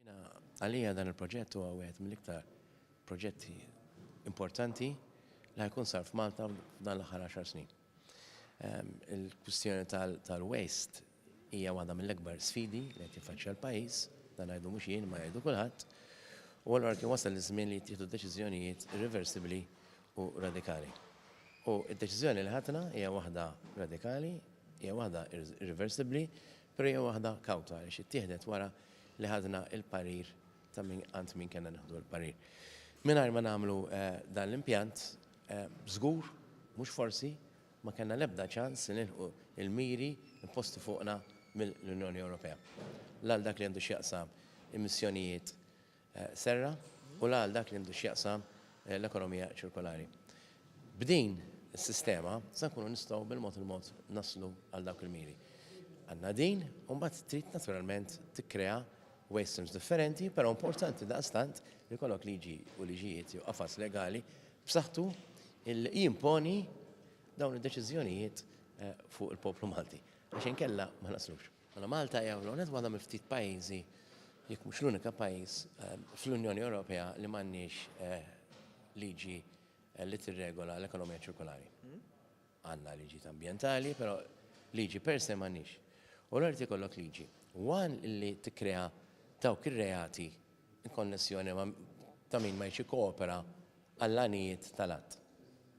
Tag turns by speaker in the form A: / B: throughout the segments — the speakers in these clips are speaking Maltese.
A: Jiena
B: għalija dan il-proġett huwa wieħed mill-iktar proġetti importanti li ħajkun sar f'Malta f'dan l-aħħar 10 snin. Ehm, il-kwistjoni tal-waste hija waħda mill-akbar sfidi li qed jiffaċċja l-pajjiż, dan għajdu mhux jien ma jgħidu kulħadd, u allura kien wasal iż-żmien li jittieħdu deċiżjonijiet irreversibbli u radikali. U d-deċiżjoni li ħatna hija waħda radikali, hija waħda irreversibbli, però hija waħda kawta li xi wara li ħadna l-parir ta' min għand min kellna nieħdu l-parir. Mingħajr ma nagħmlu dan l-impjant, żgur, mhux forsi, ma kellna l-ebda ċans li nilħqu l-miri imposti fuqna mill-Unjoni Ewropea, la għal dak li għandu x'jaqsam emissjonijiet serra u la għal dak li għandu x'jaqsam l-ekonomija ċirkolari. B'din is-sistema se nkunu nistgħu bil-mod il-mod naslu għal dawk il-miri. Għandna din u mbagħad trid naturalment tikkrea waste streams differenti, però importanti daqstant li kollok liġi u liġijiet jew qafas legali b'saħħtu il jimponi dawn id-deċiżjonijiet eh, fuq il-poplu Malti. Għax inkella ma naslux. Mela Malta hija fl-ewwel waħda mill-ftit pajjiżi, jekk mhux l-unika pajjiż, fl-Unjoni Ewropea li m'għandniex liġi li tirregola l-ekonomija ċirkolari. Għandna liġijiet ambjentali, però liġi per se m'għandniex. U allura jrid ikollok liġi. One li tikkrea dawk ir-reati in konnessjoni ma' ta' min ma jridx jikkoopera għall-għanijiet tal-att.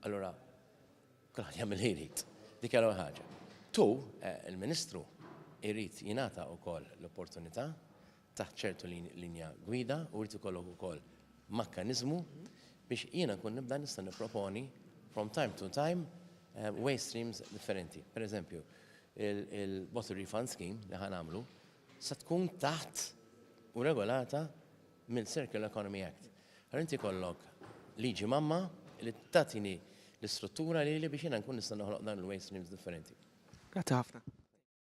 B: Allura, Kulħadd jagħmel li jrid. Dik hija l-ewwel ħaġa. Tu, il-Ministru, irid jingħata wkoll l-opportunità taħt ċertu linja gwida u jrid ikollok ukoll makkaniżmu biex jiena nkun nibda nista' nipproponi from time to time waste streams differenti. Per eżempju, il-bottle refund scheme li ħanamlu se tkun taħt u regolata mill-Circular Economy Act. Allura inti jkollok liġi mamma li tagħtini l-istruttura lili
C: biex jiena
B: nkun nista' noħloq dawn il-waste streams differenti. Grazzi ħafna.